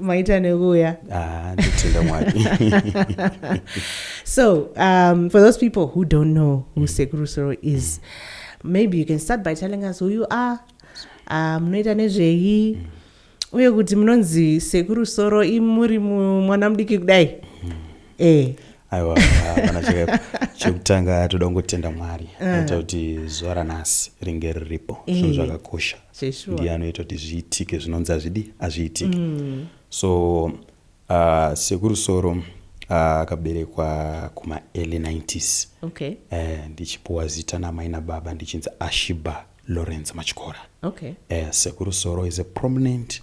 maita nekuuya ah, nditenda mwari so um, for those people who don't know who mm. sekuru soro is mm. maybe you can start by telling us who you are uh, munoita um, nezvei mm. uye kuti munonzi sekuru soro imuri mwana mudiki kudai mm. eh. aiwa hapana chakaipa chekutanga toda kungotenda mwari eh. aita kuti zuva ranhasi ringe riripo eh. zvinhu zvakakosha ndiye anoita kuti zviitike zvinonzi azvidi azviitike mm. so uh, ah, sekurusoro ah, akaberekwa uh, kumaearly 90s okay. uh, ndichipuwa zita namai nababa ndichinzi ashiba lawrence machikora okay. uh, sekurusoro is a prominent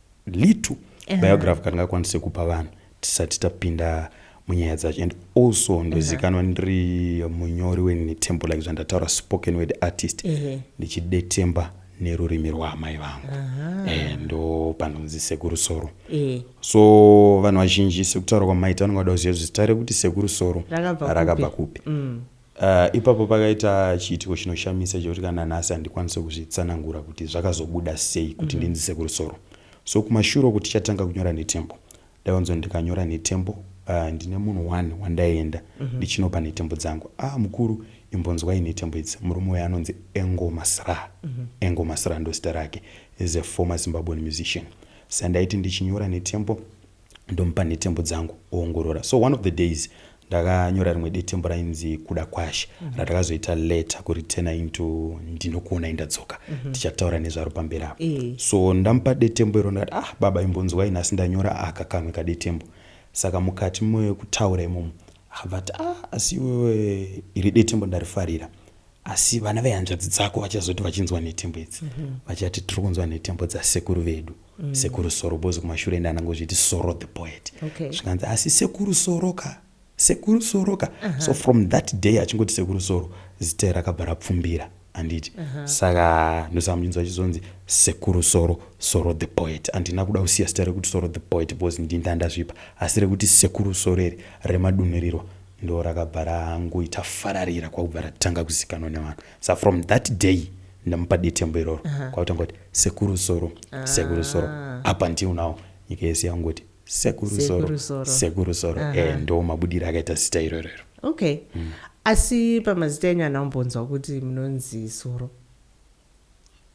little uh -huh. biography kandingakwanise kupa vanhu tisati tapinda munyaya dzacho and also ndozikanwa ndiri munyori wenetembo like zvandataura spoken word artist ndichidetemba uh -huh nerurimi rwaamai vangu eh, ndo panonzi sekuru soro eh. so vanhu vazhinji sekutaura kwamaita vanongada kuziva zita rekuti sekuru soro rakabva kupi mm. Uh, ipapo pakaita chiitiko chinoshamisa chekuti kana nhasi handikwanise kuzvitsanangura kuti zvakazobuda sei kuti mhm. ndinzise kurusoro so kumashure uku tichatanga kunyora netembo ndaionzo ndikanyora netembo uh, ndine munhu one wandaienda mhm. ndichinopa netembo dzangu a ah, mukuru imbonzwai netembo idzi murume uyo anonzi engo masra mhm. engo masra ndozita rake is a former zimbabwean musician sandaiti ndichinyora netembo ndomupa nhetembo dzangu oongorora so one of the days ndakanyora rimwe detembo rainzi kuda kwashe mm -hmm. ratakazoita letter kuritena into ndinokuonai ndadzoka mm -hmm. tichataura nezvaro pamberi apo e. so ndamupa detembo iro ndakati ah baba imbonzwai nhasi ndanyora aka kamwe kadetembo saka mukati mekutaura imomo akabvati ah asi iwewe iri detembo ndarifarira mm asi vana vehanzvadzi dzako vachazoti vachinzwa nhetembo idzi mhm. vachati tiri kunzwa nhetembo dzasekuru vedu mm. sekuru soro bozi kumashure ende anangozviti soro the poet okay. zvikanzi asi sekuru soro ka sekuru soro ka uh -huh. so from that day achingoti sekuru soro zita rakabva rapfumbira anditi uh -huh. saka ndosamuchinzwa chizonzi sekuru soro soro the poet andina kuda kusiya zita rekuti soro the poet bcause ndinda ndazvipa asi rekuti sekuru soro iri remadunirirwa ndo rakabva rangoita fararira kwakubva ratanga kuzikanwa nevanhu sa from that day ndamupa detembo iroro uh -huh. kwakutanga kuti sekuru soro ah. sekuru soro apa ndiu nawo nyika yese yangoti sekuru soro sekuru soro uh -huh. e, eh, ndo mabudiro akaita zita iroro iro okay mm. asi pamazita enyu anaombonzwa kuti munonzi soro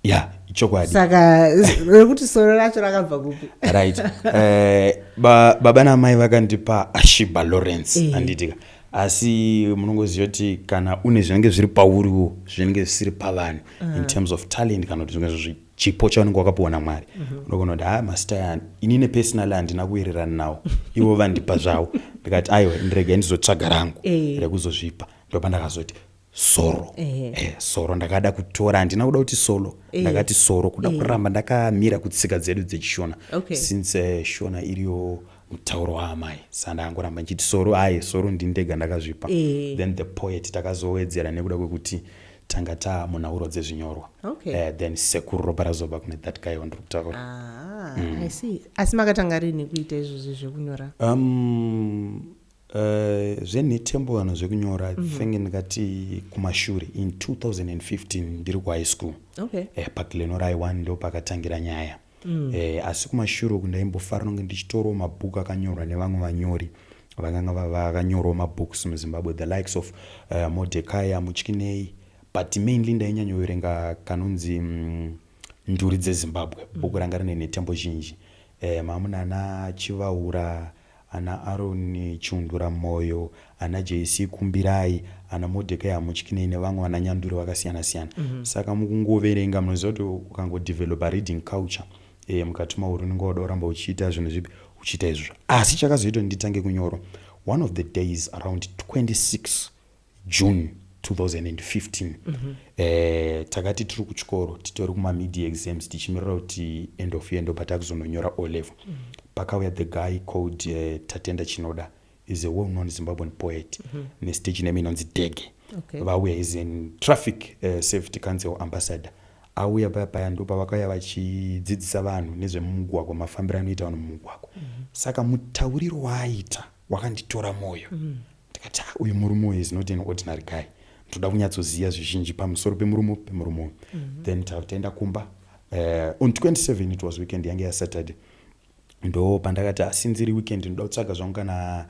ya ichokwadi saka rekuti soro racho rakabva kupi right eh, ba, baba namai vakandipa ashiba lawrence Eh. handitika asi munongoziva kuti kana une zvinenge zviri pauriwo zvinenge zvisiri pavanhu Ah. in terms of talent kana kuti zvinge zvi- chipo chaunenge wakapiwa namwari Mhm. unogona kuti ha masita yani ini nepersonal handina kuwirirana nawo ivo vandipa zvavo ndikati aiwa ndiregai ndizotsvaga rangu Eh. rekuzozvipa ndopandakazoti soro Ehe. eh, soro ndakada kutora handina kuda kuti solo Eh. ndakati soro kuda Eh. kuramba ndakamira kutsika dzedu dzechishona Okay. since eh, shona iriyo mutauro waamai sa ndakangoramba ndichiti soro aye soro ndini ndega ndakazvipa Eh. then the poet takazowedzera nekuda kwekuti tanga taa munhauro dzezvinyorwa Okay. Eh, then sekuru ropa razoba kune that guy wandiri kutaura Ah, I see. asi makatanga rini kuita izvozvi zvekunyora um, Uh, zvenhetembo kana zvekunyora mm -hmm. think ndingati kumashure in 2015 ndiri kuhigh school okay. eh, paglenorhigh one ndo pakatangira nyaya mm. eh, asi kumashure uku ndaimbofara nonge ndichitorawo mabhuku akanyorwa nevamwe vanyori vakanga vakanyorwa mabooks muzimbabwe the likes of uh, eh, modekaya mutyinei but mainly ndainyanyoverenga kanonzi mm, nduri dzezimbabwe mm. bhuku ranga rine nhetembo zhinji eh, mamunana chivaura Ana Aron chiundura moyo, ana JC kumbirai, ana Modhekai hamutyinei nevamwe vana nyanduri vakasiyana siyana. Saka mukungoverenga munoziva kuti ukango developer reading culture eh mukati mauri unenge wauda kuramba uchiita zvinhu zvipi uchiita izvozvo. Asi chakazoita kuti nditange kunyoro one of the days around 26 June 2015 mm -hmm. eh, takati tiri kuchikoro titori kumamedia exams tichimirira kuti end of year ndobva takuzononyora o level mm -hmm. pakauya the guy called eh, tatenda chinoda is a well known zimbabwean poet mm -hmm. nestage name inonzi dege okay. vauya is in traffic uh, safety council ambassador auya paya paya ndo pavakauya vachidzidzisa vanhu nezvemumugwagwa mafambiro anoita vanhu mumugwagwa mm -hmm. saka mutauriro waaita wakanditora mwoyo mm -hmm Ndikati, ah, uyu murume uyu is not an ordinary guy. Ndoda kunyatsoziva zvizhinji pamusoro pemurume pemurume uyu. Mm -hmm. Then taenda kumba. Uh, on 27 it was weekend yange yaSaturday. Ndo pandakati asinziri ah, weekend ndoda kutsvaga zvangu kana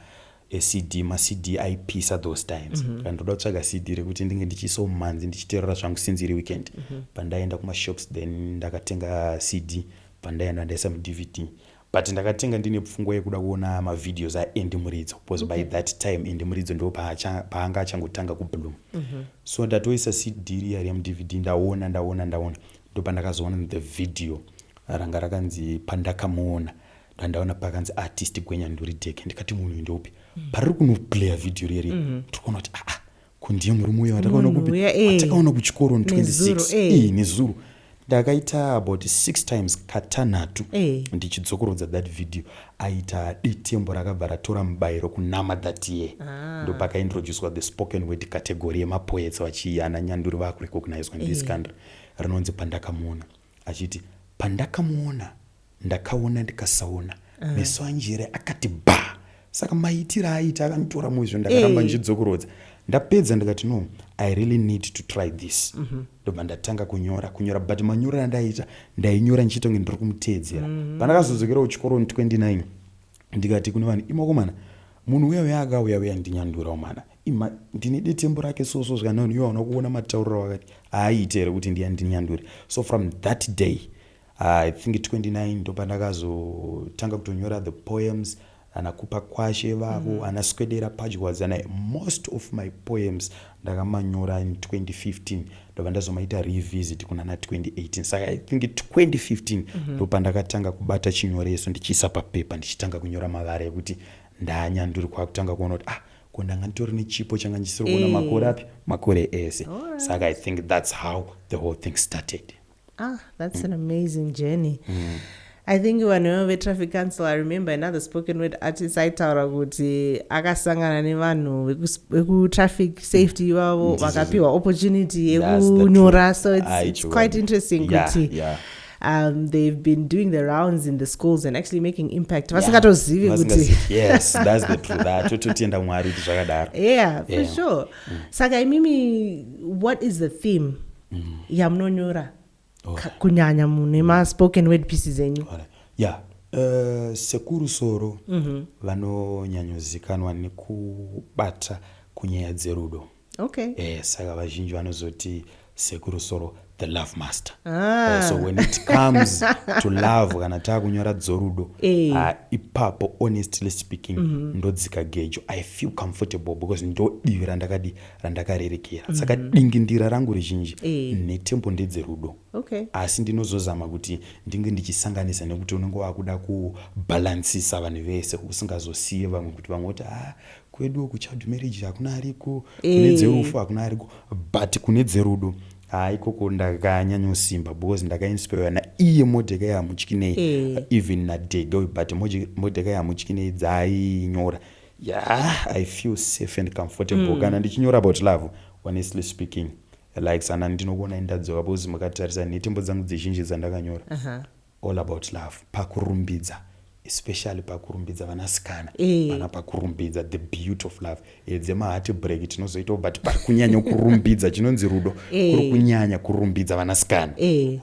ecd macd aipisa those times mm -hmm. ndoda kutsvaga cd rekuti ndinge ndichiisawo mumanzi ndichiterora zvangu since iri weekend mm -hmm. pandaenda kumashops then ndakatenga cd pandaenda ndaisa mudvd But ndakatenge ndine pfungwa yekuda kuona ma videos a Andy Muridzo because okay. by that time Andy Muridzo ndo paanga achangotanga ku bloom. Mm -hmm. So ndatoisa CD riya remu DVD ndaona ndaona ndaona ndopandakazoona the video ranga rakanzi pandakamuona ndandaona pakanzi artist gwenya nduri deke ndikati munhu ndopi mm. pariri kunoplaya video riri mm -hmm. tikuona kuti aa ah, ah, ko ndiye murume uya watakaona Munhu kupi uya, eh. watakaona kuchikoro on Nezuro, 26 eh. Eh, nezuro ndakaita about six times katanhatu Eh. ndichidzokorodza that video aita detembo rakabva ratora mubayiro kunama that year Ah. ndopakaintroducwa the spoken word category yemapoets vachiana nyanduri vakurecognizwa ndiiskandra rinonzi pandakamuona achiti pandakamuona ndakaona ndikasaona ah. meso anjere akati ba saka maitiro aita akanditora muizvo ndakaramba ndichidzokorodza ndapedza ndikati no i really need to try this mhm. ndobva ndatanga kunyora kunyora but manyorero andaiita ndainyora ndichitonge ndiri kumuteedzera mhm. pandakazodzokera kuchikoro 29 ndikati kune vanhu imakomana munhu uya uya akauya uya ndinyandurawo mana Ima, ndine detembo rake so so zvikanani iwe hauna kuona matauriro wakati haaite here kuti ndiya ndinyandure so from that day i think 29 ndopandakazotanga kutonyora the poems anakupa kwashe vavo mm -hmm. anaswedera padyadzana most of my poems ndakamanyora in 2015 ndobva ndazomaita revisit kunana 2018 saka i think 2015 mhm. ndopandakatanga mm -hmm. kubata chinyoreso ndichiisa papepa ndichitanga kunyora mavara ekuti ndanyanduri kwakutanga kuona kuti ah ko ndanga nditori nechipo changa ndisiri kuona eh. makore api makore ese saka i think that's how the whole thing started ah that's mm. an amazing journey mm. i think vanhu vetraffic council i remember another spoken word artist aitaura kuti akasangana nevanhu vekutraffic safety ivavo vakapiwa opportunity yekunyora so it's, it's quite interesting kuti yeah, yeah. um, they've been doing the rounds in the schools and actually making impact vasingatozivi kutitotienda kumwari kuti zvakadaro yeah for yeah. sure mm. saka imimi what is the theme mm. yamunonyora okay. kunyanya mune maspoken word pieces enyu okay. yeah Uh, sekuru soro mm -hmm. vanonyanyozikanwa nekubata kunyaya dzerudo okay eh saka vazhinji vanozoti sekuru soro the love master ah. uh, so when it comes to love kana taakunyora dzorudo hey. Eh. uh, ah, ipapo honestly speaking mm -hmm. ndodzika gejo i feel comfortable because ndodivi randakadi randakarerekera mm -hmm. saka dingindira rangu rizhinji hey. Eh. netembo ndedzerudo okay. asi ndinozozama kuti ndinge ndichisanganisa nekuti unenge wakuda kubhalansisa vanhu vese usingazosiye vamwe kuti vamwe kuti ah, kweduwo kuchild marriage hakuna ariko kune eh. dzerufu hakuna ariko but kune dzerudo haa ikoko ndakanyanyosimba because ndakainspira naiye modekai hamutyinei eh. even nadhedha uyu but modekai hamutyinei dzainyora yeah i feel safe and comfortable mm. kana ndichinyora about love honestly speaking like sana ndinokuonai ndadzoka because makatarisa nhetembo dzangu dzizhinji dzandakanyora uh -huh. All about love pakurumbidza especially pakurumbidza vanasikana eh. vana pakurumbidza the beauty of love eh, dzemahati break tinozoitawo but pakunyanya kurumbidza chinonzi rudo eh. kuri kunyanya kurumbidza vanasikana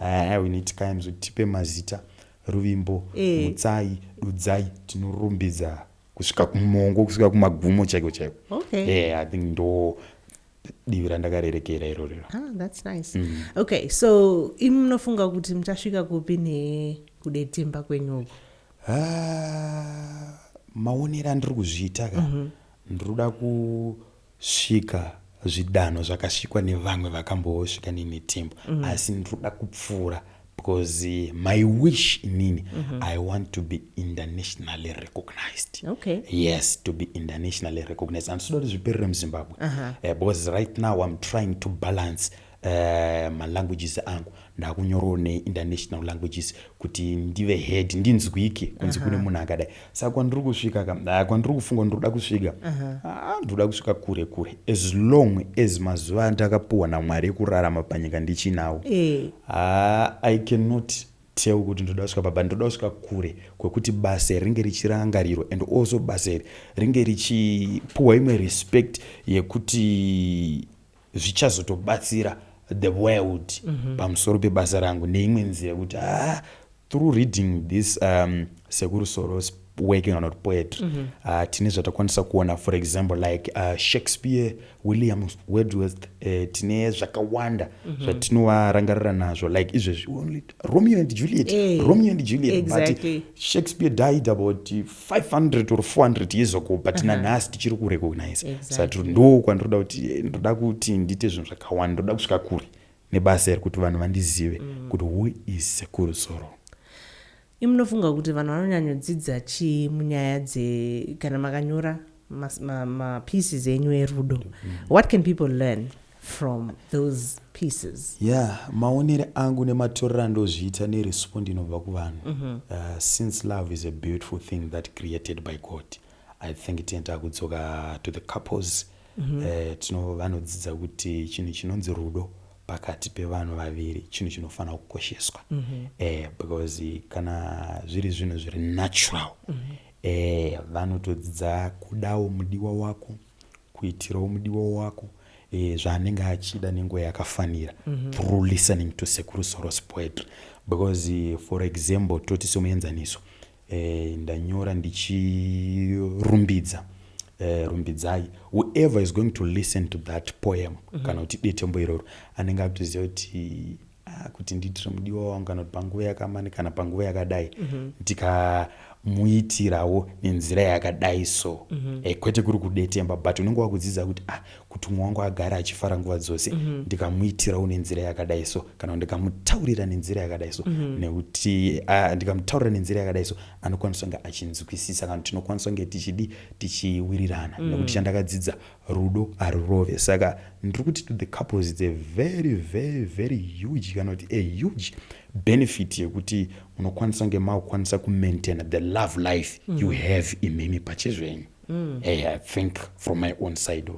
ah, we need times kuti tipe mazita ruvimbo mutsai dudzai tinorumbidza kusvika kumongo kusvika kumagumo chaiko chaiko i think ndo divi randakarerekera irori ah, that's nice mm. okay so imi munofunga kuti muchasvika kupi nekudetemba kwenyu uku ah, maonero andiri kuzviita ka mm -hmm. ndiri kuda kusvika zvidanho zvakasvikwa nevamwe vakambosvika nenetembo mm -hmm. asi ndiri kuda kupfuura because eh, my wish inini mm -hmm. i want to be internationally recognized okay. yes to be internationally recognized and sodoti zviperere muzimbabwe uh -huh. uh, because right now i'm trying to balance uh, eh, malanguages angu ndakunyorawo neinternational languages kuti ndive head ndinzwike kunzi uh -huh. kune munhu akadai saka kwandiri kusvika ka ah, kwandiri kufunga ndiri kuda kusvika ah, ndiri kuda kusvika kure kure as long as mazuva andakapuwa namwari ekurarama panyika ndichinawo Eh. Ah, i cannot tell kuti ndoda kusvika papa ndoda kusvika kure kwekuti basa iri ringe richirangarirwa and also basa iri ringe richipuwa imwe respect yekuti zvichazotobatsira the world mm -hmm. pamusoro pebasa rangu neimwe nzira yekuti ah, through reading this um, sekuru soros working on poetry mm -hmm. uh, tine zvatakwanisa kuona for example like uh, shakespeare william wedworth uh, tine zvakawanda mm -hmm. zvatinovarangarira nazvo like izvezvi only romeo and juliet hey, eh, romeo and juliet exactly. but shakespeare died about 500 or 400 years ago but uh -huh. nanhasi tichiri kurecognize exactly. sati ndo kwandiroda kuti eh, ndoda kuti ndiite zvinhu zvakawanda ndoda kusvika kure nebasa iri kuti vanhu vandizive mm. kuti who is sekuru zoro imunofunga kuti vanhu vanonyanyodzidza chii munyaya dze kana makanyora mapieces ma, ma enyu erudo mm -hmm. what can people learn from those pieces yeah maonere angu nematorero andozviita nerespondi inobva kuvanhu mm -hmm. uh, since love is a beautiful thing that created by god i think tienda kudzoka to the couples mm -hmm. uh, tino vanodzidza kuti chinhu chinonzi rudo pakati pevanhu vaviri chinhu chinofanira kukosheswa mm -hmm. uh, because kana zviri zvinhu zviri natural mm -hmm. Eeh vanotodzidza kudawo mudiwa wako kuitirawo mudiwa wako eh, zvaanenge achida nenguva yakafanira mm -hmm. through listening to sekuru soros poetry because eh, for example toti somuenzaniso eh, ndanyora ndichirumbidza eh, rumbidzai whoever is going to listen to that poem mm -hmm. kana kuti detembo iroro anenge akutoziva kuti Ah, kuti ndiitire mudiwa wangu kana kuti panguva yakamani kana panguva yakadai mhm. ndikamuitirawo nenzira yakadai so mhm. eh, kwete kuri kudetemba but unenge wakudzidza kuti ah kuti umwe wangu agare achifara nguva dzose mhm. ndikamuitirawo nenzira yakadai so kana ndikamutaurira nenzira yakadai so nekuti ah, ndikamutaurira nenzira yakadai so anokwanisa kunge achinzwisisa kana tinokwanisa kunge tichidi tichiwirirana nekuti chandakadzidza Rudo harurove saka ndiri kuti to the couples it's a very very very huge kana kuti a huge benefit yekuti munokwanisa kunge makukwanisa kumaintaina the love life mm. you have imimi pachezvenyu mm. hey, i think from my own side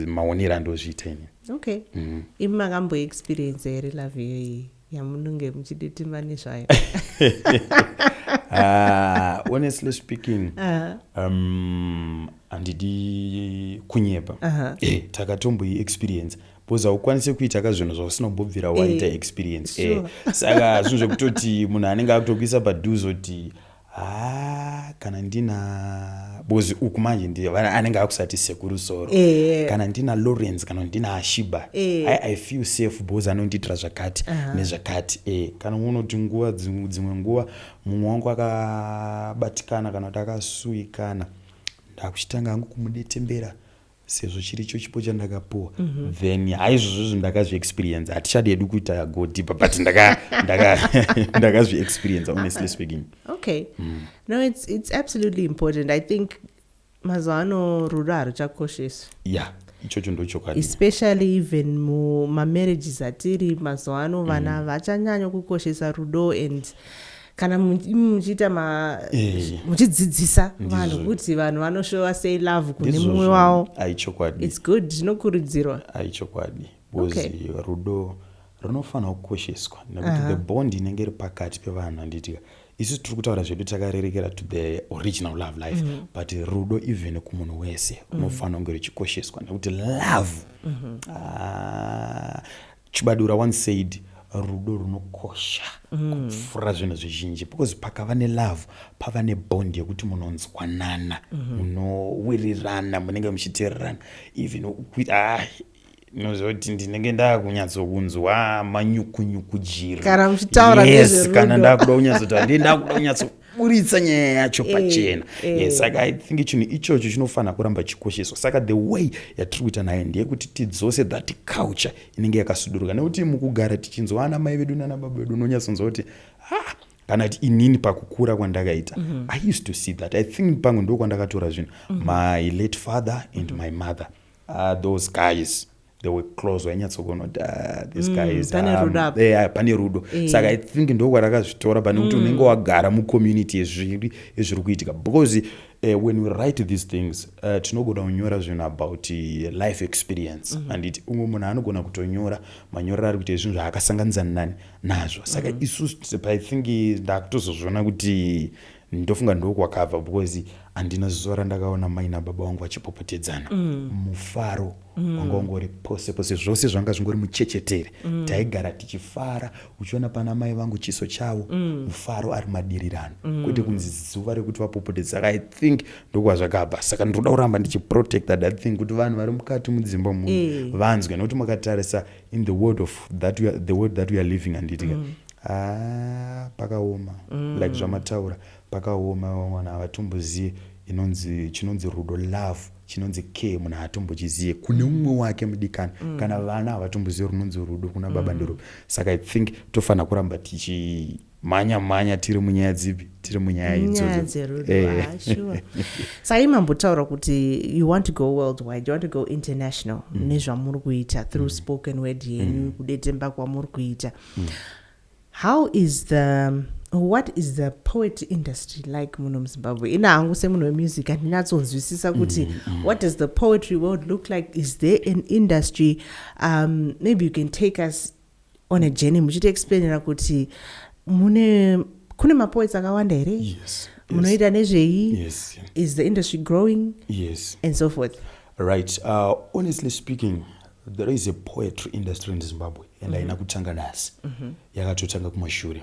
maonero andozviita ini okay mm. imi makamboexperience here love iyoyi yamunenge muchiditima nezvayo ah, honestly speaking um, handidi kunyepa eh, takatomboyi experience bcause haukwanise kuita ka zvinhu zvausina kumbobvira eh, waita experience eh, saka zvinhu zvekutoti munhu anenge akutokuisa paduze kuti haa kana ndina bozi uku manje ndiyo anenge akusati sekuru soro yeah. kana ndina lawrence kana ndina ashiba yeah. I, i feel safe bozi anondiitira zvakati uh -huh. nezvakati e kana unoti nguva dzimwe nguva mumwe wangu akabatikana kana kuti akasuikana ndakuchitanga hangu kumudetembera sezvo chiri cho chipo chandakapuwa mm -hmm. then haizvozvo izvo ndakazviexperienza hatichadi hedu kuita go deeper but ndakazviexperienza ndaka, honestly speaking okay mm. no it's, it's absolutely important i think mazuva ano rudo haruchakosheswi yeah ichocho ndochokwadi especially even mumamarriages atiri mazuva ano vana mm. vachanyanya kukoshesa rudo and kana muchiita ma eh. muchidzidzisa vanhu kuti vanhu vanoshowa sei love kune mumwe wavo aichokwadi its good zvinokurudzirwa aichokwadi bcoz rudo runofanira kukosheswa nekuti the bond inenge iri pakati pevanhu andiitika isu tiri kutaura zvedu takarerekera to the original love life mm -hmm. but rudo even kumunhu wese mhm. unofanira kunge ruchikosheswa nekuti love mm -hmm. ah, Chibadura once said rudo runokosha kupfuura zvinhu zvizhinji because pakava nelove pava nebond yekuti munonzwanana munowirirana munenge muchiteererana even ukui- ah, munoziva kuti ndinenge ndakunyatsokunzwa manyukunyuku jiri Kana muchitaura yes nezverudo. kana ndakuda kunyatsotaura ndiye ndakuda kunyatso buritsa nyaya yacho eh, pachena eh. yes saka i think chinhu ichocho chinofanira kuramba chikosheswa saka the way yatiri kuita nayo ndeyekuti tidzose that culture inenge yakasuduruka nekuti mukugara tichinzwa ana mai vedu nana baba vedu unonyatsonzwa kuti ha ah, kana kuti inini pakukura kwandakaita mm -hmm. i used to see that i think pamwe ndo kwandakatora zvinhu mm -hmm. my late father and mm -hmm. my mother uh, those guys the way close wainyatsokuona kuti ah, this mm, guy is pane rudo um, eh, ah, pane rudo eh. saka i think ndokwarakazvitora pane kuti mm. unenge wagara mucommunity yezviri ezviri kuitika because uh, when we write these things uh, tinogona kunyora zvinhu about eh, life experience mm -hmm. anditi umwe munhu anogona kutonyora manyorero ari kuita zvinhu zvaakasanganisa nani nazvo saka mm -hmm. isu i think ndakutozozviona kuti ndofunga ndokwakabva because handina zuva randakaona mai nababa wangu vachipopotedzana mm. mufaro mm. wanga ungori pose pose zvose zvanga zvingori muchechetere mm. taigara tichifara uchiona pana mai vangu chiso chavo mm. mufaro ari madirirano mm. kwete kunzi zuva rekuti vapopotedzana i think ndokwazvakabva saka ndinoda kuramba ndichiprotecta that thing kuti vanhu vari mukati mudzimba muno e. vanzwe nekuti makatarisa in the world of that we are, the world that we are living handiti ka mm. ah, pakaoma mm. like zvamataura pakaoma vamwana havatombozive inonzi chinonzi rudo love chinonzi care munhu haatombochizive kune mm. umwe wake mudikani mm. kana vana havatombozive runonzi rudo kuna baba mm. ndiro saka i think tofanira kuramba tichi mhanya mhanya tiri munyaya dzipi tiri munyaya idzodzosayi mambotaura kuti you want to go worldwide you want to go international mm. nezvamuri kuita through mm. spoken word yenyu mm. kudetemba kwamuri kuita mm. how is the what is the poet industry like muno muzimbabwe ina hangu semunhu wemusic handinatsonzwisisa kuti mm, mm. what does the poetry world look like is there an industry um, maybe you can take us on a journey muchiti explainira kuti mune kune mapoets akawanda here yes, munoita yes. nezvei yes. is the industry growing yes. and so forth right uh, honestly speaking there is a poetry industry in zimbabwe and mm -hmm. haina kutanga nhasi mm -hmm. yakatotanga kumashure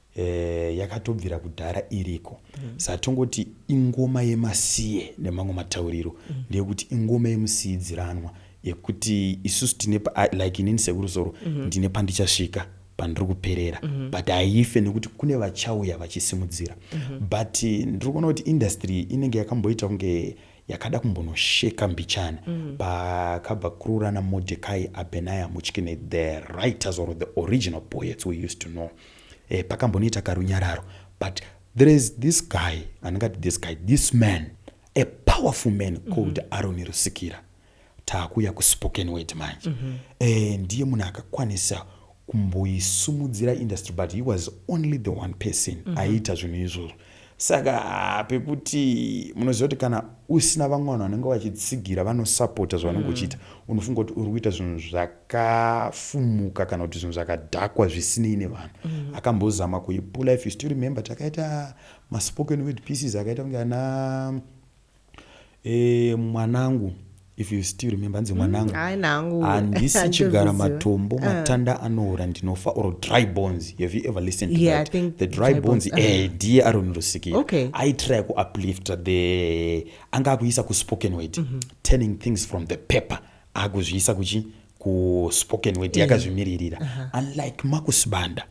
Eh, yakatobvira kudhara iriko mm. sa tongoti ingoma yemasiye nemamwe matauriro mm. ndeyekuti ingoma yemusiidziranwa yekuti isusu tine pa, like inini sekurusoro mm -hmm. ndine pandichasvika pandiri kuperera mm -hmm. but haife nekuti kune vachauya vachisimudzira mm -hmm. but eh, ndiri kuona kuti industry inenge yakamboita kunge yakada kumbonosheka mbichana mm -hmm. pakabva kururana modekai abenaya muchikine the writers or the original poets we used to know eh, pakambonoita karunyararo but there is this guy andingati this guy this man a powerful man mhm. called mm -hmm. aroni rusikira taakuuya kuspoken word manje mm -hmm. e, ndiye munhu akakwanisa kumboisumudzira industry but he was only the one person mm -hmm. aiita zvinhu izvozvo Saka haa pekuti munoziva kuti kana usina vamwe vanhu vanenge vachitsigira vanosapota zvavanenge mm. uchiita unofunga kuti uri kuita zvinhu zvakafumuka kana kuti zvinhu zvakadhakwa zvisinei nevanhu mm. akambozama kuipula if you still remember takaita maspoken word pieces akaita kunge ana Eh, mwanangu if you still remember hanzi mwanangu mm, handisi chigara matombo uh. matanda anoora ndinofa or dry bones have you ever listened to yeah, that? the dry, dry bones, bones. Uh. Eh, ndiye aron rusikira okay. aitry kuuplifta the anga akuisa kuspoken word mm -hmm. turning things from the paper akuzviisa kuchi kuspoken word mm. yakazvimiririra uh -huh. unlike makusibanda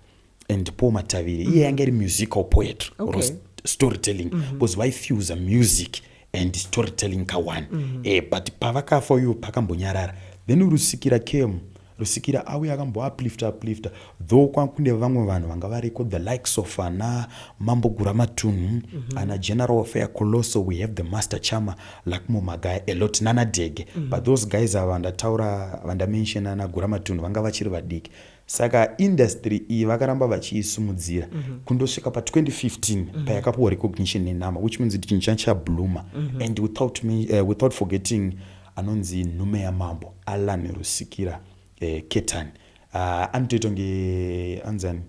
and paul matavire iye yanga iri musical poetry or Okay. storytelling because vaifuse music and storytelling kawani eh, but pavakafa uyo pakambonyarara then rusikira came rusikira auya akamboaplifta aplifta though kwakune vamwe vanhu vanga variko the likes of ana mambo guramatunhu ana general affair colosso we have the master chama lakmo magaya a lot nana dege but those guys ava vandataura vandamention ana guramatunhu vanga vachiri vadiki Saka industry iyi vakaramba vachiisimudzira mm -hmm. kundosvika pa 2015 mm -hmm. payakapuwa recognition nenhama which means kuti chinhu changa chablooma mm -hmm. and without, me, uh, without forgetting anonzi nhume yamambo alan rusikira eh, ketan uh, ah, anotoitwa nge anzani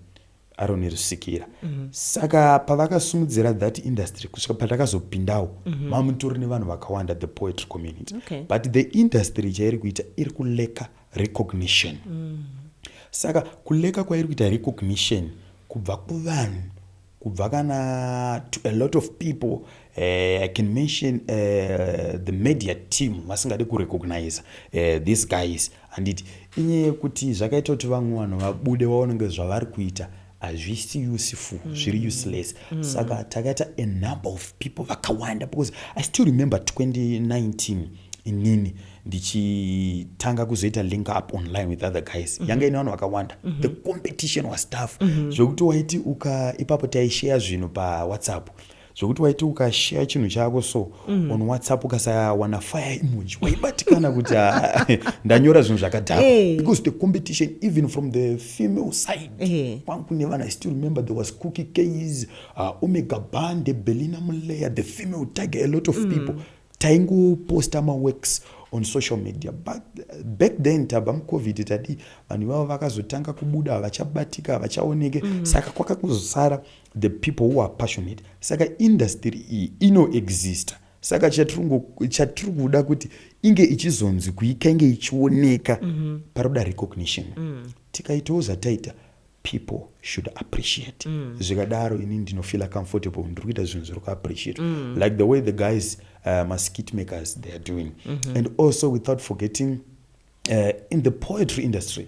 aroni rusikira mm -hmm. saka pavakasumudzira that industry kusvika patakazopindawo mm -hmm. mamutori nevanhu vakawanda the poetry community okay. but the industry chairi kuita iri kuleka recognition mm. saka kuleka kwairi kuita recognition kubva kuvanhu kubva kana to a lot of people uh, i can mention uh, the media team vasingadi kurecognize uh, these guys handiti inyaya yekuti zvakaita kuti vamwe vanhu vabude vaonenge zvavari kuita hazvisi useful mm. zviri useless mm. saka takaita a number of people vakawanda because i still remember 2019 inini ndichitanga kuzoita link up online with other guys mm -hmm. yanga ine vanhu vakawanda mm -hmm. the competition was tough mm -hmm. zvekuti waiti uka ipapo taishare zvinhu pawhatsapp zvekuti waiti ukashare chinhu chako so mm. on whatsapp ukasawana fire emoji waibatikana kuti ah, ndanyora zvinhu zvakadhakwa hey. Eh. because the competition even from the female side hey. Eh. kwangu nevana i still remember there was cookie case uh, omega bande belina muleya the female tiger a lot of mm. people taingoposta maworks on social media but back then taba mucovid tadi vanhu ivavo vakazotanga kubuda havachabatika havachaoneke mm. saka kwakakuzosara the people who are passionate saka industry iyi inoexista saka chatiri kuda kuti inge ichizonzi kuika inge ichioneka mm -hmm. paroda recognition mm. tikaitawo zvataita people should appreciate mm. zvikadaro ini ndinofeela comfortable ndiri kuita zvinhu zviri kuappreciate mm. like the way the guys uh, maskit makers they are doing mm -hmm. and also without forgetting uh, in the poetry industry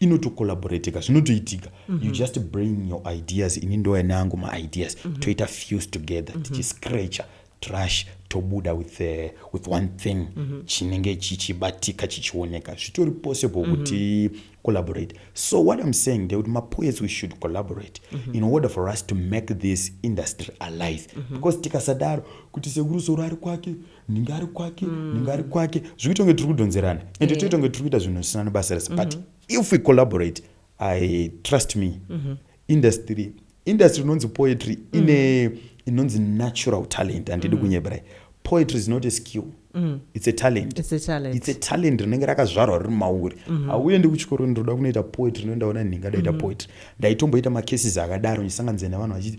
inoto collaborateka zvinotoitika mm -hmm. you just bring your ideas ini ndoya neangu maideas mm -hmm. toita fuse together mm -hmm. tichiscratcher trash tobuda with, uh, with one thing mm -hmm. chinenge chichibatika chichioneka zvitori possible mm -hmm. kuti collaborate so what i'm saying ndekuti mapoets we should collaborate mm -hmm. in order for us to make this industry alive mm -hmm. because tikasadaro kuti sekuru soro ari kwake ndinge ari kwake mm. ndinge ari kwake zvikuita kunge tiri kudhonzerana and toita kunge tiri kuita zvinhu zvisina nebasa rese but mhm. if we collaborate i trust me mhm. industry industry inonzi poetry mm. ine inonzi natural talent andidi mm. kunyeberai poetry is not a skill mm. it's a talent it's a talent it's a talent rinenge rakazvarwa riri mauri mm-hmm. hauendi kuchikoro ndinoda kunoita poetry ndoendaona nhinga ndaita mm-hmm. poetry ndaitomboita macases akadaro ndisanganizai nevanhu vachiti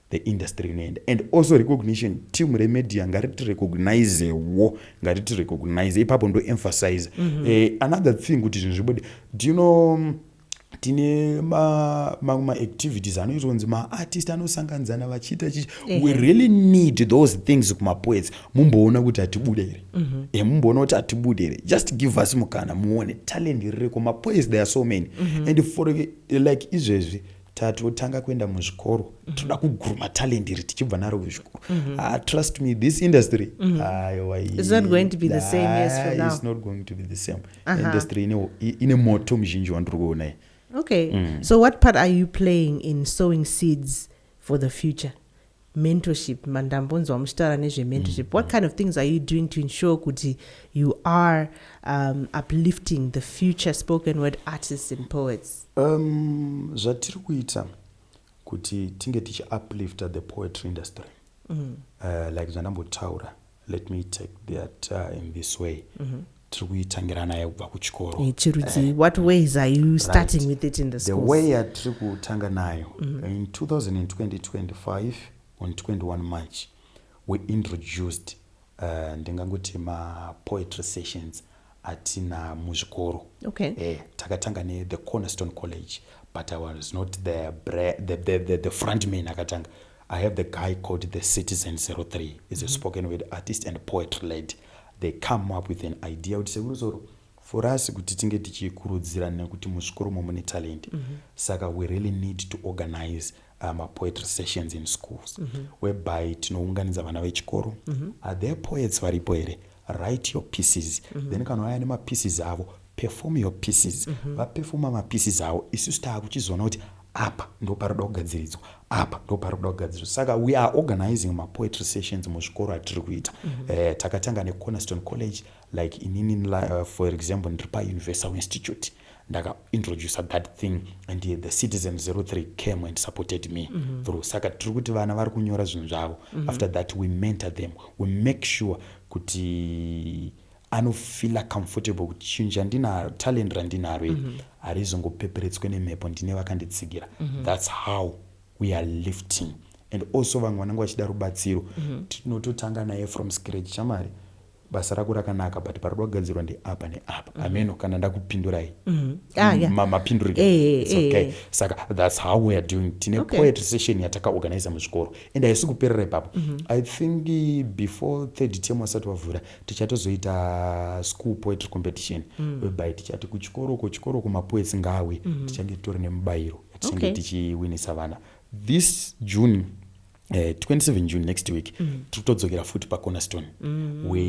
the industry inoenda and also recognition team remedia ngariti recognize wo ngariti recognize ipapo ndo emphasize mm -hmm. eh, another thing kuti zvinhu zvibude do you know mm, tine mamwe maactivities anoita kunzi maartist anosanganidzana vachiita chichi we really need those things kumapoets mumboona kuti hatibude here mm -hmm. e eh, mumboona kuti hatibude here just give us mukana muone talent ririko mapoets there are so many mm -hmm. and for like izvezvi tatotanga kuenda muzvikoro mm -hmm. toda kuguruma talent iri tichibva naro kuzvikoro mm -hmm. ah, trust me this industry mm -hmm. ah, it's not going to be the same yes for now it's not going to be the same uh -huh. industry ine, ine moto muzhinji wandiri kuonai okay mm. so what part are you playing in sowing seeds for the future mentorship mandambonzwa muchitaura nezvementorship mm. what kind of things are you doing to ensure kuti you are um, uplifting the future spoken word artists and poets um, zvatiri kuita kuti tinge tichiuplifta the poetry industry mm. uh, like zvandambotaura let me take that uh, in this way mm -hmm. tiri kuitangira naye kubva kuchikoro eh, chirudzii eh, what ways are you starting right. with it in the, the way yatiri kutanga nayo mm -hmm. in 2025 on 21 march we introduced uh, ndingangoti mapoetry sessions atina muzvikoro okay. eh, takatanga nethe cornerstone college but i was not the, the, the, the, the front man akatanga I have the guy called the Citizen 03. He's a mm-hmm. spoken word artist and poetry lady. They come up with an idea kuti sekuru zoro for us kuti tinge tichikurudzira nekuti muzvikoro mo mune talent mm -hmm. saka we really need to organize uh, mapoetry sessions in schools mm -hmm. whereby tinounganidza vana vechikoro mm -hmm. are there poets varipo here write your pieces mm -hmm. then kana vaya nemapieces avo perform your pieces mm -hmm. vapefoma mapieces avo isusu taakuchizoona kuti apa ndo pari kuda kugadziridzwa apa ndo pari kuda kugadziridzwa saka we are organizing mapoetry sessions muzvikoro atiri kuita mm -hmm. uh, takatanga necornerstone college like inini uh, for example ndiri pauniversal institute ndaka introducer that thing and the citizen 03 came and supported me mm -hmm. through saka tiri kuti vana vari kunyora zvinhu zvavo mm -hmm. after that we mentor them we make sure kuti anofila comfortable kuti chinhu chandinaro talent randinaro iri mm -hmm. harizongopeperetswe nemhepo ndine vakanditsigira mm -hmm. thats how we are lifting and also vamwe vanenge vachida rubatsiro mm -hmm. tinototanga naye from scratch chamari mm -hmm. basa rako rakanaka but parikuda kugadzirwa ndeapa neapa mm. ameno kana ndakupindurai mm. ah, yeah. mapinduriro hey, eh, eh, hey, eh, okay. hey. saka thats how weare doing tine okay. poet session yatakaorganiza muzvikoro and haisi kuperera ipapo mm -hmm. i think before third term wasati wavhura tichatozoita school poetry competition mm. whereby tichati kuchikoro uko chikoro uko mapoets ngawe mm -hmm. tichange titori nemubayiro yatichange okay. tichiwinisa vana this june Uh, eh, 27 june next week mm. tiri kutodzokera futi pacornerstone mm. we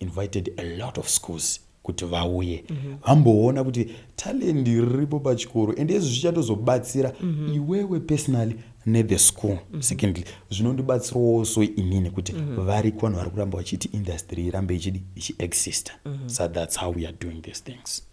invited a lot of schools kuti vauye mm -hmm. vamboona kuti talendi riripo pachikoro and izvi zvichatozobatsira mm -hmm. iwewe personally nethe school mm -hmm. secondly zvinondibatsirawo so inini kuti mm -hmm. variko vanhu vari kuramba vachiti industry irambe ichidi ichiexista mm -hmm. so that's how we are doing these things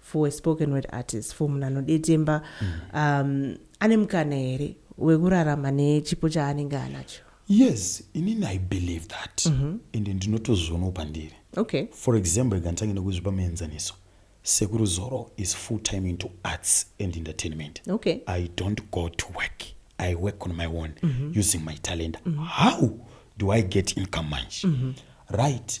for a spoken word artist for munhu anodetemba um, ane mukana here wekurarama nechipo chaanenge anacho yes inini i believe that ende ndinotozvionawo pandiri okay for example rega nditange nekuzvipa muenzaniso sekuru zoro is full time into arts and entertainment okay I don't go to work. I work on my own using my talent. How do I get income manje? Right.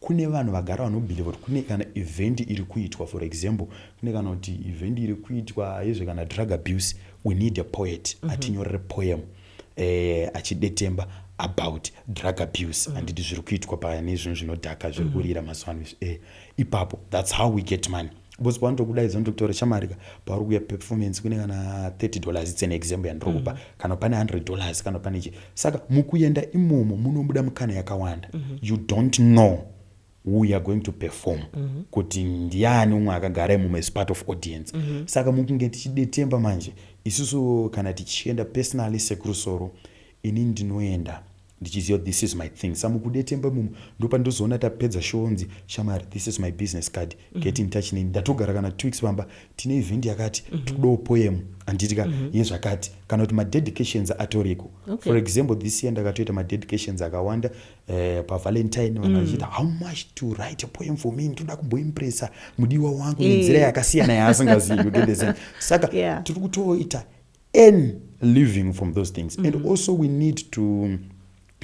Kune vanhu vagara vanobhiliva kuti kune kana event iri kuitwa for example kune kana kuti event iri kuitwa yezve kana drug abuse we need a poet mm -hmm. atinyorere poem eh, achidetemba about drug abuse mm. anditi zviri kuitwa paya nezvinhu zvinodhaka zviri mm. kurira mm. mazuva ano izvi eh, ipapo that's how we get money Boss pavanotokuda izvo ndokutaura shamari ka pauri kuya performance kune kana 30 dollars it's an example yandiri kupa mm. kana pane 100 dollars kana pane chi saka mukuenda imomo munobuda mikana yakawanda mm -hmm. you don't know who youare going to perform mm -hmm. kuti ndiani umwe akagara imomo as part of audience mm -hmm. saka mukunge tichidetemba manje isusu kana tichienda personally sekurusoro ini ndinoenda Ndichiziva this is my thing sa mukudetemba imomo ndopandinozoona tapedza show onzi shamari this is my business card mhm. get in touch neni ndatogara kana two weeks pamba tine event yakati mhm. tikudawo poem handiti ka mhm. yezvakati kana kuti madedications atoriko for example this year ndakatoita madedications akawanda eh, pavalentine vanhu mm. vachiita how much to write a poem for me ndinoda kumboimpressa mudiwa wangu nenzira eh. yakasiyana yaasingazivi saka tiri kutoita earn living from those things mm -hmm. and mm-hmm. also we need to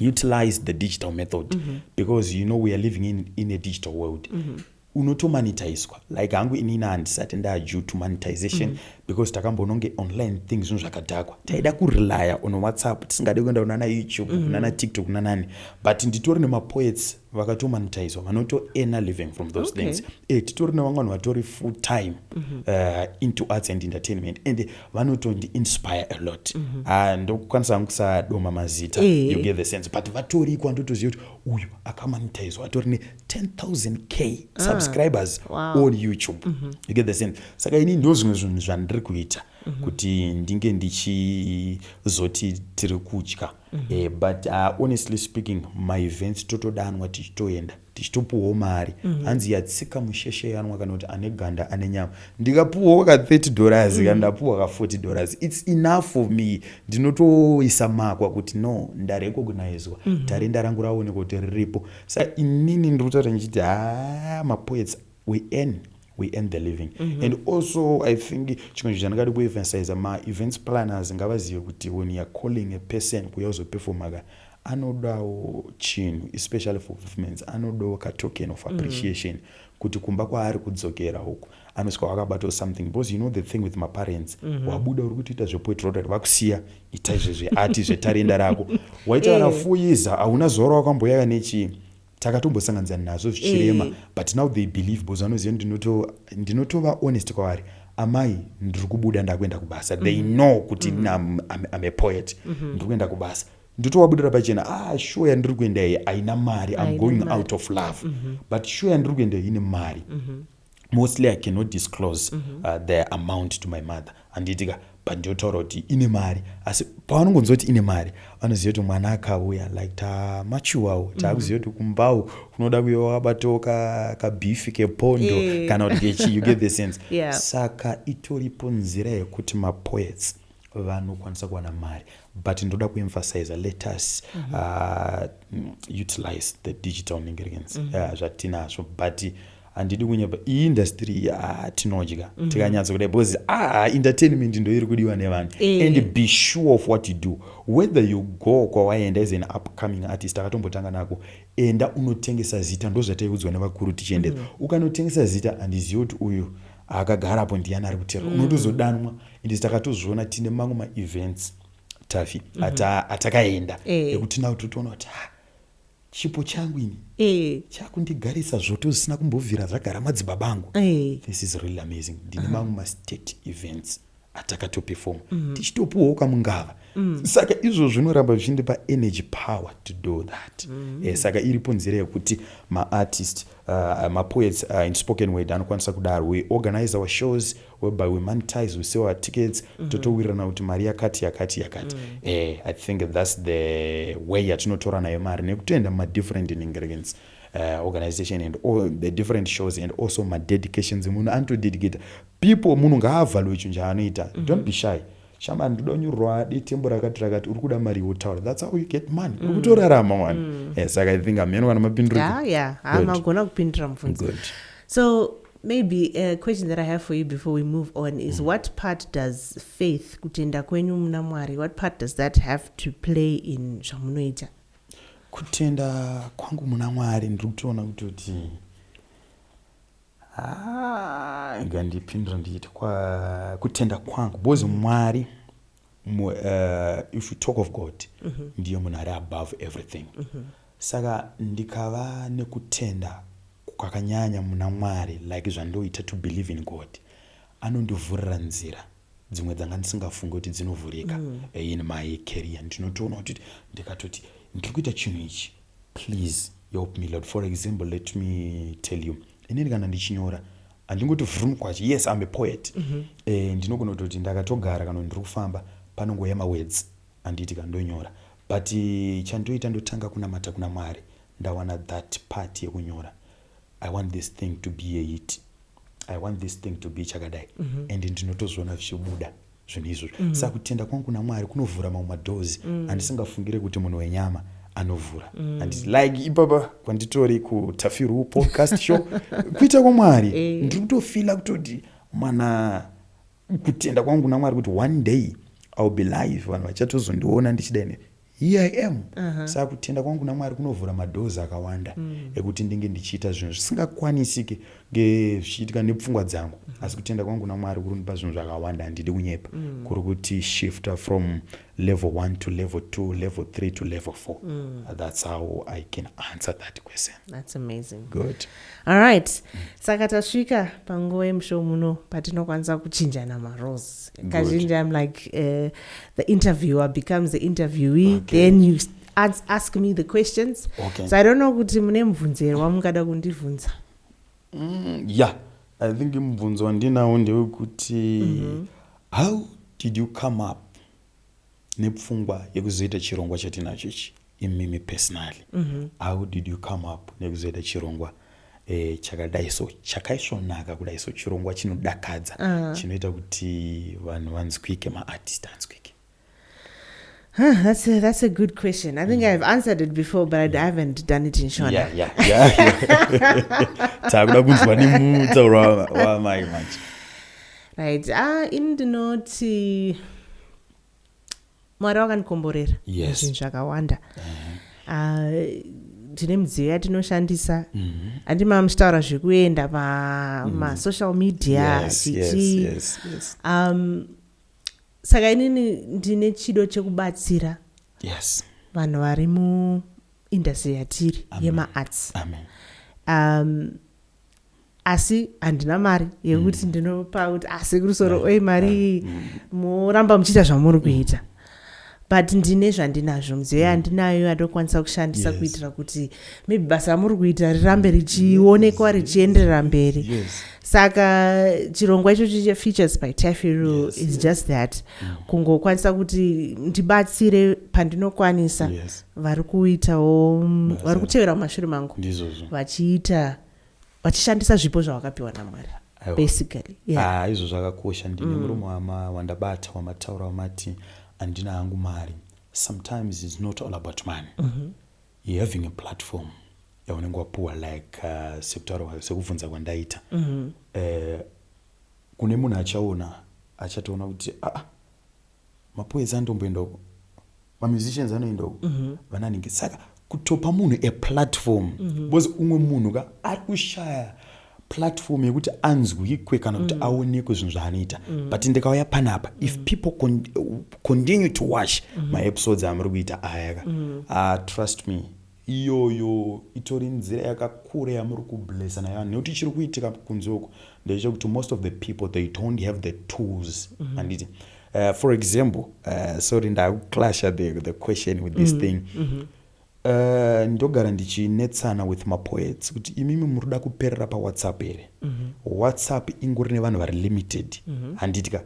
utilize the digital method mm -hmm. because you know we are living in, in a digital world mm -hmm unotomanitaiswa like hangu inini handisati ndadue to monetization mm -hmm. because takambononge online thing zvinhu zvakadhakwa taida kurelya on whatsapp tisingade kuenda kunana youtube mm -hmm. kunana tiktok kunanani but nditori nemapoets vakatomanitizwa vanotoena living from those okay. things e, titori navamwe vanhu vatori full time mm -hmm. uh, into arts and entertainment and vanotondi inspire a lot mm -hmm. uh, ndokukwanisa vangu kusadoma mazita e. you get the sense but vatoriko andotoziva kuti uyu akamanitizwa atori ne 10000 k ah, subscribers uh, wow. on youtube mm -hmm. you get the sense saka ini ndo zvimwe zvinhu zvandiri kuita mm -hmm. kuti ndinge ndichizoti tiri kutya mm -hmm. eh, but uh, honestly speaking maevents totodanwa tichitoenda tichitopuhwawo mari mm -hmm. hanzi yatsika musheshe yanwa kana kuti ane ganda ane nyama ndikapuhwawo ka 30 dollars mm -hmm. kana ndapuhwa ka 40 dollars its enough for me ndinotoisa makwa kuti no ndarekognizwa mm -hmm. tarenda rangu raonekwa kuti riripo sa inini ndiri kutaura ndichiti haa mapoets we earn we earn the living mm -hmm. and also i think chimwe chinhu chandingadi kuemphasiza maevents planners ngavazive kuti when youare calling a person kuya uzoperfomaka anodawo chinhu especially for movements anodawo katoken of mm. appreciation mm -hmm. kuti kumba kwaari kudzokera uku anosvika wakabatawo something because you know the thing with maparents mm -hmm. wabuda uri kutoita zvepoetrotary vakusiya ita izvezveati zvetarenda rako waita kana eh. fuyiza hauna zora wakamboyaka nechii takatombosanganisa nazvo zvichirema eh. but now they believe bcause vanoziva ndinotova honest kwavari amai ndiri kubuda ndakuenda kubasa they mm-hmm. know kuti mm -hmm. am a poet mm -hmm. ndiri kuenda kubasa ndotowabudira pachena ah shuwa yandiri kuenda iyi haina mari am going mari. out of love mm -hmm. but shuwa yandiri kuenda iyi ine mari mm -hmm. mostly i cannot disclose mm -hmm. uh, the amount to my mother handiti ka but ndiotaura kuti ine mari asi pavanongonzwa kuti ine mari vanoziva kuti mwana akauya like tamachuwawo mhm. taakuziva kuti kumbawo kunoda kuve wakabatawo kabifi kepondo eh. kana kuti kechi you get the sense yeah. saka itoripo nzira yekuti mapoets vanokwanisa kuwana mari but ndoda kuemphasiza let us mm -hmm. uh, utilize the digital ingredients mm -hmm. uh, zvatinazvo but handidi kunyeba iindustry iyi ah, tinodya mm -hmm. tikanyatso kudai because ah, entertainment ndo iri kudiwa nevanhu e. and be sure of what you do whether you go kwawaenda as an upcoming artist akatombotanga nako enda unotengesa zita ndozvataiudzwa nevakuru tichiendera mm -hmm. ukanotengesa zita handizivi kuti uyu akagarapo ndiyani ari kutera mm -hmm. unotozodanwa and takatozviona tine mamwe maevents tafi mm -hmm. atakaenda ekuti nau totoona kuti ah, chipo changu ini eh. chakundigarisa zvoto zvisina kumbovira zvagara madzibaba angu eh. this is really amazing ndine mamwe uh -huh. mastate events atakatopefoma mm -hmm. tichitopuwawo kamungava mm. saka izvo zvinoramba zvichindipa energy power to do that mm -hmm. eh, saka iripo nzira yekuti maartist uh, mapoets uh, in spoken word anokwanisa kudaro we organize our shows whereby we monetize we sell our tickets mm -hmm. totowirirana kuti mari yakati yakati yakati mm. eh, i think thats the way yatinotora nayo mari nekutoenda mumadifferent ingredients uh, organization and all the different shows and also madedications munhu anotodedicata people munhu ngaavhalwe chinhu chaanoita mm -hmm. don't be shy shama ndinoda unyorwa detembo rakati rakati uri kuda mari wotaura thats how you get money mm. ukutorarama wani mm. yes, eh, saka i think ameno kana mapinduriko yeah, yeah. amagona kupindura mubvunzo so Maybe a uh, question that I have for you before we move on is mm. what part does faith, kutenda kwenyu muna Mwari, what part does that have to play in zvamunoita? Kutenda kwangu muna Mwari ndiri kutoona kutoti mm. ah, ngandipindira ndichiti kutenda kwangu because mm. Mwari uh, if you talk of god mm -hmm. ndiye munhu ari above everything mm -hmm. saka ndikava nekutenda kwakanyanya muna mwari like zvandoita to believe in god anondivhurira nzira dzimwe dzanga ndisingafunge kuti dzinovhurika mm. Eh, in my career ndinotoona kuti ndikatoti ndiri kuita chinhu ichi Please help me Lord. For example, let me tell you. Inini kana ndichinyora handingoti vrum kwacho. Yes, I'm a poet. Mm -hmm. Eh, ndinogona kutoti ndakatogara kana ndiri kufamba panongouya mawords handiti kana ndonyora. But eh, chandoita ndotanga kunamata kuna Mwari. Ndawana that part yekunyora. I want this thing to be a hit. I want this thing to be chakadai. Mm -hmm. And ndinotozviona zvichibuda. zvinhu izvozvo mm -hmm. saka kutenda kwangu kuna mwari kunovhura mamwe madoors mm -hmm. andisingafungire kuti munhu wenyama anovhura mm. and like ipapa kwanditori kutafiru podcast show kuita kwamwari eh. ndiri kutofila kutoti mana kutenda kwangu kuna mwari kuti one day ill be live vanhu vachatozondiona ndichida ine Here I am. Saka kutenda kwangu kuna Mwari kunovhura madoors akawanda ekuti ndinge ndichiita zvinhu zvisingakwanisike nge- zvichiitika nepfungwa dzangu. Asi kutenda kwangu kuna Mwari kuri kundipa zvinhu zvakawanda handidi kunyepa. Kuri kuti shifter from level one to level two, level three to level four. That's how I can answer that question. That's amazing. Good. Alright. Saka tasvika panguva yemushow muno patinokwanisa kuchinjana marose. Kazhinji I'm like uh, the interviewer becomes the interviewee okay. then you ask, ask me the questions. Okay. So I don't know kuti mune mubvunzo here wamungada kundibvunza. Mm, yeah. I think mubvunzo wandinawo ndewekuti mm -hmm. how did you come up nepfungwa yekuzoita chirongwa chatinacho ichi? imimi personally mm -hmm. how did you come up nekuzoita chirongwa e, chakadai so chakaisvonaka kudai so chirongwa chinodakadza uh -huh. chinoita kuti vanhu vanzwike maartist anzwike Huh, that's a, that's a good question. I think mm. I've answered it before, but I yeah. haven't done it in Shona. Yeah, yeah, yeah. Takuda kunzwa nemutauro wamai manje. Right. Ah, ini ndinoti mwari wakandikomborera yes. zvinhu zvakawanda ah, tine uh, midziyo yatinoshandisa mm-hmm. handi mm -hmm. mamuchitaura zvekuenda pamasocial mm. media yes, yes, yes, yes. Um, saka inini ndine chido chekubatsira yes. vanhu vari muindastry yatiri yemaarts um, asi handina mari yekuti mm. ndinopa kuti asekuru ah, soro oi mari iyi mm. moramba muchiita zvamuri kuita but ndine zvandinazvo mudziyo mm. yandinayo yandokwanisa kushandisa yes. kuitira kuti maybe basa ramuri kuita rirambe richionekwa yes. richienderera mberi yes. saka chirongwa ichocho chefeatures by tafiru yes. is just that mm. kungokwanisa kuti ndibatsire pandinokwanisa yes. vari kuitawo vari kutevera mumashure mangu vachiita yes. vachishandisa zvipo zvavakapiwa namwari basically yeah. ah, izvo zvakakosha ndine mm. murume wama wandabata wamataura wamati handina hangu mari sometimes is not all about money mm -hmm. you having a platform yaunenge wapuwa like uh, sekutaura sekubvunza kwandaita mm -hmm. eh, kune munhu achaona achatoona kuti aa ah, ah, mapoedza andomboenda uko mamusicians anoenda uku mhm. vananhingi saka kutopa munhu a platform mhm. because umwe munhu ka ari kushaya platform yekuti anzwikwe kana kuti mm. aonekwe zvinhu zvaanoita mm. but ndikauya panapa mm. if people con continue to watch mm. maepisodes amuri kuita aya ka mm. uh, trust me Iyoyo itori nzira yakakura yamuri kublessa nayo vanhu nekuti chiri kuitika kunze uko ndechekuti most of the people they don't have the tools mm-hmm. handiti mm -hmm. Uh, for example uh, sorry ndakuclasha the, the question with this mm -hmm. thing mm -hmm. Uh, ndogara ndichinetsana with mapoets kuti imimi muri kuda kuperera pawhatsapp here mm -hmm. whatsapp ingori nevanhu vari limited mm -hmm. handitika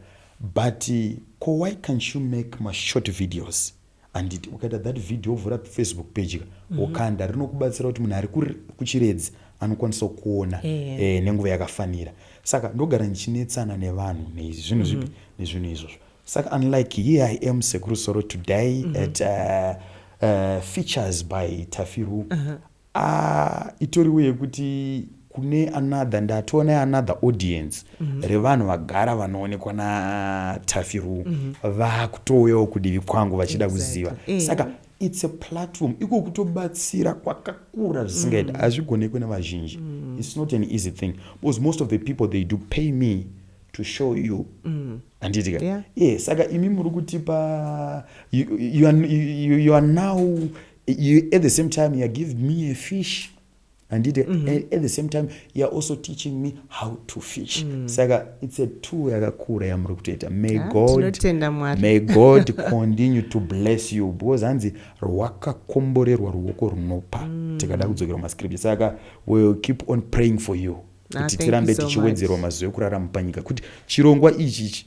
but ko why can't you make mashort videos handiti ukaita that video wovhura facebook page ka mhm. wokanda rinokubatsira kuti munhu ari kuchiredzi anokwanisa kuona eh. Eh, nenguva yakafanira saka ndogara ndichinetsana nevanhu nezvinhu zvipi mhm. nezvinhu izvozvo saka unlike here i am sekuru soro today mhm. at uh, uh, features by tafiru uh-huh. Aah itoriwo yekuti kune another ndatova ne another audience mm -hmm. revanhu vagara vanoonekwa na Taffy Rue mm -hmm. vakutouyawo kudivi kwangu vachida exactly. kuziva yeah. saka it's a platform iko kutobatsira kwakakura zvisingaita mm. hazvigonekwe mm. nevazhinji mm. it's not an easy thing because most of the people they do pay me to show you mm. andiitika yeah. yeah saka imi muri kutipa you, you, you, you are now you, at the same time youare giving me a fish andite mm -hmm. at the same time youare also teaching me how to fish mm. saka it's a two yakakura yamuri kutoita may yeah, god may god continue to bless you because hanzi rwakakomborerwa ruoko runopa mm. tikada kudzokera mascripture saka will keep on praying for you ah, kuti tirambe tichiwedzerwa mazuva ekurarama panyika kuti chirongwa ichi ichi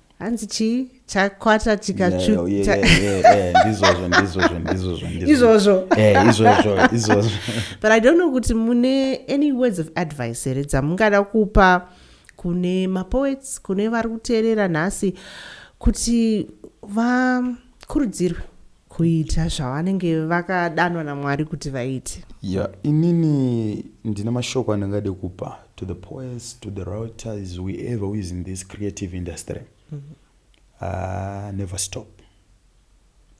hanzi chii chakwata chikatsvuka ndizvozvo ndizvozvo ndizvozvo izvozvo eh, izvozvo izvozvo but i don't know kuti mune any words of advice here dzamungada kupa kune mapoets kune vari kuteerera nhasi kuti vakurudzirwe kuita zvavanenge vakadanwa namwari kuti vaite ya inini ndina mashoko andingade kupa to the poets to the routers weever who is in this creative industry mm -hmm. uh, never stop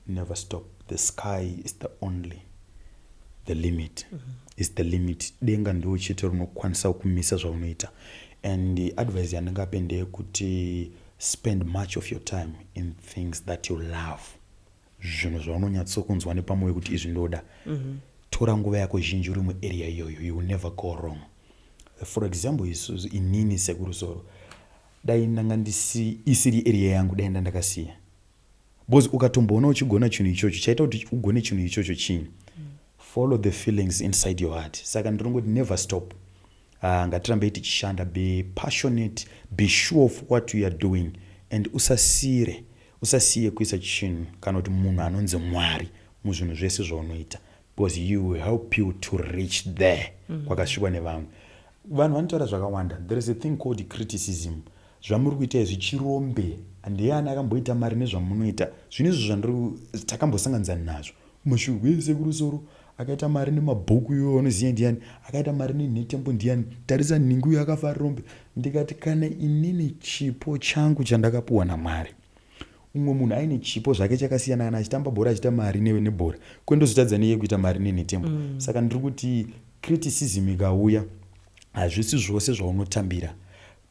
never stop the sky is the only the limit mm -hmm. is the limit denga ndiwo chete rinokwanisa kumisa zvaunoita and the advice yandingape ndeyekuti spend much of your time in things that you love zvinhu zvaunonyatsokunzwa nepamoyo kuti izvi ndoda mm -hmm. tora nguva yako zhinji uri muarea iyoyo you will never go wrong for example isuzu inini sekuru zoro dai ndanga ndisi isiri area yangu dai nda ndakasiya because ukatomboona uchigona chinhu ichocho chaita kuti ugone chinhu ichocho chii mm. follow the feelings inside your heart saka ndinongoti never stop Haa ngatirambei tichishanda be passionate be sure of what u are doing and usasiire usasiye kuisa chinhu kana kuti munhu anonzi Mwari muzvinhu zvese zvaunoita because he will help you to reach there mm. kwakasvikwa nevamwe vanhu vanotaura zvakawanda there is a thing called criticism zvamuri kuita izvi chirombe ndiye ani akamboita mari nezvamunoita zvinhu izvo zvandiri takambosanganidzana nazvo Mashurwe ese kurusoro akaita mari nemabhuku iwe waunoziva ndiani akaita mari nenhetembo ndiani tarisa nhingi uyo akafa ari rombe ndikati kana inini chipo changu chandakapuwa namwari umwe munhu aine chipo zvake chakasiyana kana achitamba bhora achiita mari newe nebhora kwendozotadza neiye kuita mari nenhetembo mm. saka ndiri kuti criticism ikauya hazvisi zvose zvaunotambira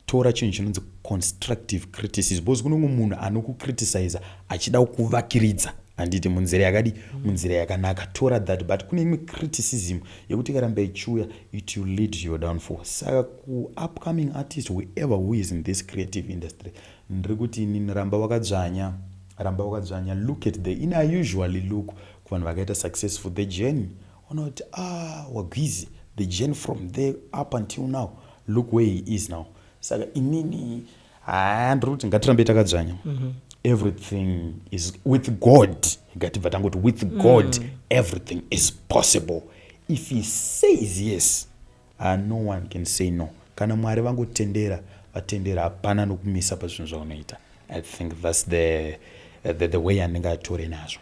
Tora chinhu chinonzi constructive criticism because kune umwe munhu anokukriticiza achida kukuvakiridza handiti munzira yakadi mm. munzira yakanaka tora that but kune imwe criticism yekuti ikaramba ichiuya it will lead to your downfall saka kuupcoming artist whoever who is in this creative industry ndiri kuti inini ramba wakadzvanya ramba wakadzvanya look at the in i usually look kuvanhu vakaita successful the journey Unoti aah wagwizi the journey from there up until now look where he is now saka inini haa ndiri kuti ngatirambe takadzvanya mm -hmm. everything is with god ngatibva tangoti with mm. god mm. everything is possible if he says yes uh, no one can say no kana mwari vangotendera vatendera hapana nokumisa pazvinhu zvaunoita i think thats the, the, the way andingatore nazvo